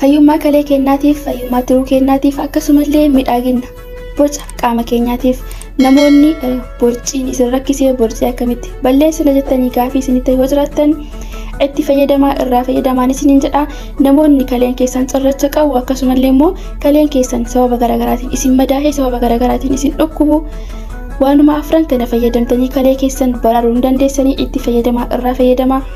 Fayyummaa kalee keenyaatiif, fayyummaa tiruu keenyaatiif akkasumallee midhaaginna boca qaama keenyaatiif namoonni borciin isin rakkisee borcii akkamitti balleessina jettanii gaafii isinitti yoo jiraattan itti fayyadamaa irraa fayyadamaan isiniin jedha namoonni kaleen keessan cirracha qabu akkasumallee immoo kaleen keessan sababa garaagaraatiin isin madaahee sababa garaagaraatiin isin dhukkubu waanuma afran kana fayyadamtanii kalee keessan baraaruu ni dandeessanii itti fayyadamaa irraa fayyadamaa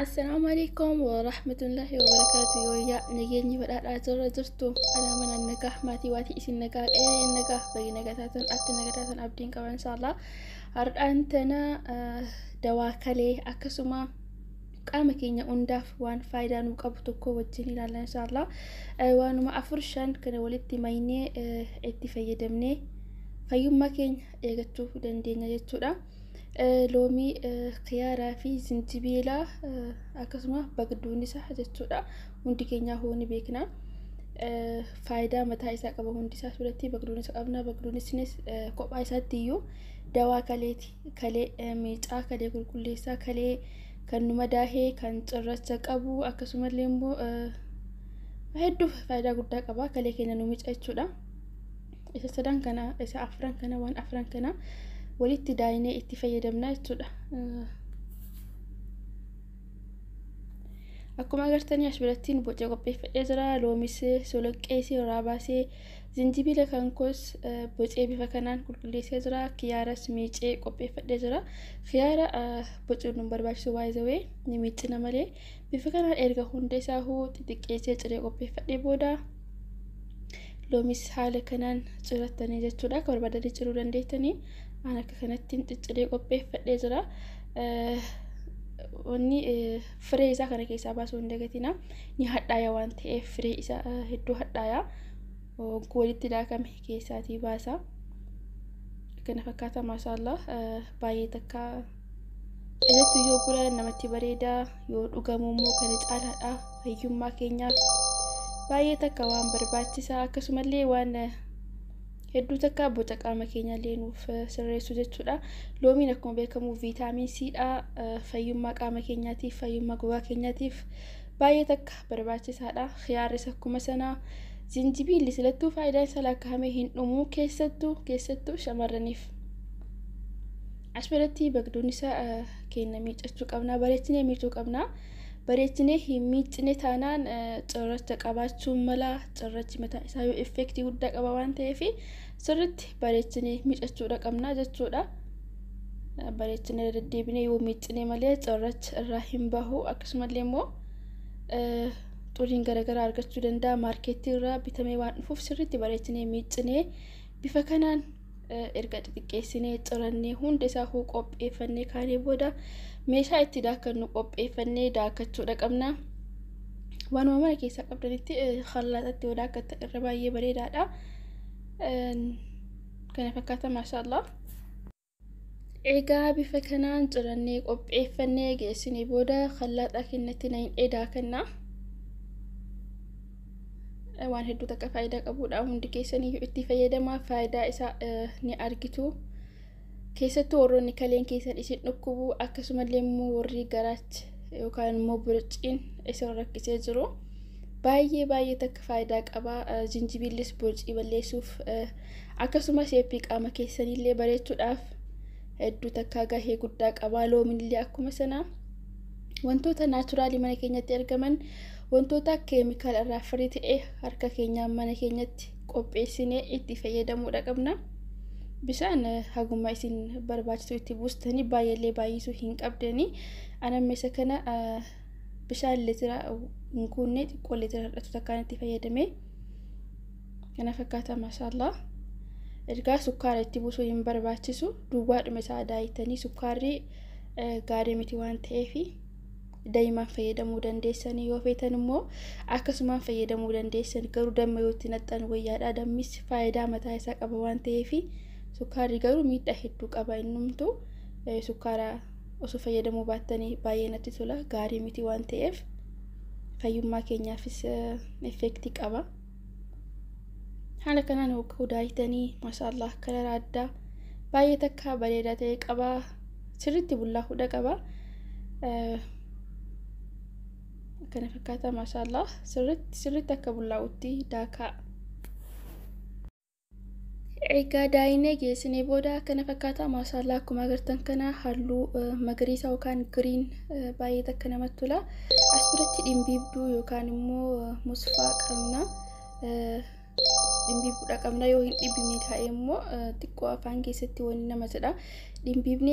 Assalaamu alaikum wa rahmatullahi wa barakaatu yooyyaa nageenyi badhaadhaa jirra jirtu anaa mana nagaa maatii waatii isin nagaa qe'ee nagaa bayi nagaa taatan atti nagaa taatan abdiin qaban inshaallah har'aan tana dawaa kalee akkasuma qaama keenya hundaaf waan faayidaa nu qabu tokko wajjin ilaalla inshaallah waanuma afur shan kana walitti maynee itti fayyadamnee fayyummaa keenya eegachuu dandeenya jechuudha. Loomii, kiyaaraa fi zinjibiila akkasuma bagduun isaa jechuudha. Hundi keenyaa hoo ni beekna. Faayidaa mataa isaa qaba hundi isaa suuratti bagduun isa qabna. Bagduun isinis kophaa isaatti iyyuu dawaa kaleeti. Kalee miicaa, kalee qulqulleessaa, kalee kan nu madaahee, kan cirracha qabu akkasumallee immoo hedduu faayidaa guddaa qaba. Kalee keenya nu miica jechuudha. isa sadan kana isa afran kana waan afran kana walitti daayinee itti fayyadamna jechuudha. Akkuma agartanii as birattiin boca qopheeffadhee jira loomis soloqqees irraa baasee zinjibila kan koos bocee bifa kanaan qulqulleessee jira kiyaaras miicee qopheeffadhee jira kiyaara bocuun nu barbaachisu waayizawee ni miicina malee Bifa kanaan erga hunda isaahuu xixiqqeessee ciree qopheeffadhee booda loomis haala kanaan cirattanii jechuudha. Akka barbaadanii ciruu dandeettanii aan akka kanattiin cicciree qopheeffadhee jira. Wanni firee isaa kana keessaa baasuu hin dagatina. Ni hadhaaya waan ta'eef firee isaa hedduu hadhaaya. Hogguu walitti daakame keessaatii baasa. Kana fakkaata maashaallah baay'ee takka. Keessattuu yoo gura namatti bareeda yoo dhugamu immoo kana caalaadha fayyummaa keenyaaf baay'ee takka waan barbaachisa akkasumallee waan hedduu takka boca qaama keenyallee nuuf sirreessu jechuudha. Loomiin akkuma beekamu viitaamiin C dha fayyummaa qaama keenyaatiif fayyummaa gogaa keenyaatiif baay'ee takka barbaachisaadha. Khiyaarris akkuma sana zinjibiilli silattuu faayidaan isaa lakkaa'amee hin dhumu keessattuu keessattuu shamarraniif. As biratti bagdoonni isaa keenya miiccachuu qabna. Bareechinee miicuu qabna. Bareechinee hin miicine taanaan cirracha qabaachuu mala. Cirrachi mataa isaa yoo effeektii guddaa qaba waan ta'eef sirriitti bareechinee miicachuudha qabna jechuudha. Bareechinee deddeebinee yoo miicine malee cirrachi irraa hin bahu. Akkasumallee immoo xuriin garaagaraa argachuu danda'a. Maarkeettii irraa bitamee waan dhufuuf sirriitti bareechinee miicinee bifa kanaan erga xixiqqeessinee cirannee hunda isaa huu qopheeffannee kaanee booda meeshaa itti daakannu qopheeffannee daakachuudha qabna. Waanuma mana keessaa qabdanitti hallaaxatti yoo daakattan irra baay'ee bareedaadha. Kana fakkaata maashaallah. Egaa bifa kanaan cirannee qopheeffannee geessinee booda hallaaxaa kennatti na hin daakanna. waan hedduu takka faayidaa qabudha hundi keessaniyyuu itti fayyadamaa faayidaa isaa ni argitu keessattuu warroonni kaleen keessan isin dhukkubu akkasumallee immoo warri garaachi yookaan immoo burciin isin rakkisee jiru baay'ee baay'ee takka faayidaa qaba jinjibiillis burcii balleessuuf akkasumas eeppii qaama keessanillee bareechuudhaaf hedduu takka gahee guddaa qaba loominillee akkuma sana wantoota naachuraalii mana keenyatti argaman Wantoota keemikaala irraa firii ta'e harka keenyaan mana keenyatti qopheessinee itti fayyadamuudha qabna. Bishaan haguma isin barbaachisu itti buustanii baay'eellee baay'isuu hin qabdanii. Anammeessa kana bishaan litira hin kuunne xiqqoo litira hir'atu takkaan itti fayyadame. Kana fakkaata maashaallah. Ergaa sukkaara itti buusuu hin barbaachisu. Duwwaadhuma isaa daa'ittanii sukkaarri gaarii miti waan ta'eefi. daimaan fayyadamuu dandeessanii yoo feetan immoo akkasumaan fayyadamuu dandeessan garuu damma yoo itti naxxan wayyaadha dammis faayidaa mataa isaa qaba waan ta'eef sukkaarri garuu miidhaa hedduu qaba innumtu sukkaara osoo fayyadamuu baattanii baay'ee natti tola gaarii miti waan ta'eef fayyummaa keenyaafis effeektii qaba. haala kanaan hogguu daayitanii maashaallah kalara addaa baay'ee takka bareeda ta'e qaba sirritti bullaa hudha qaba akkana fakkaata maashaallah sirritti sirritti akka bullaa'utti daakaa Egaa daayinee geessinee booda akkana fakkaata maashaallaa akkuma agartan kana halluu magariisa yookaan giriin baay'ee takka namatti tola. As biratti dhimbiibduu yookaan immoo musfaa qabna. Dhimbiibduudha qabna yoo hin dhibbine taa'e immoo xiqqoo afaan keessatti waliin nama jedha. Dhimbiibnee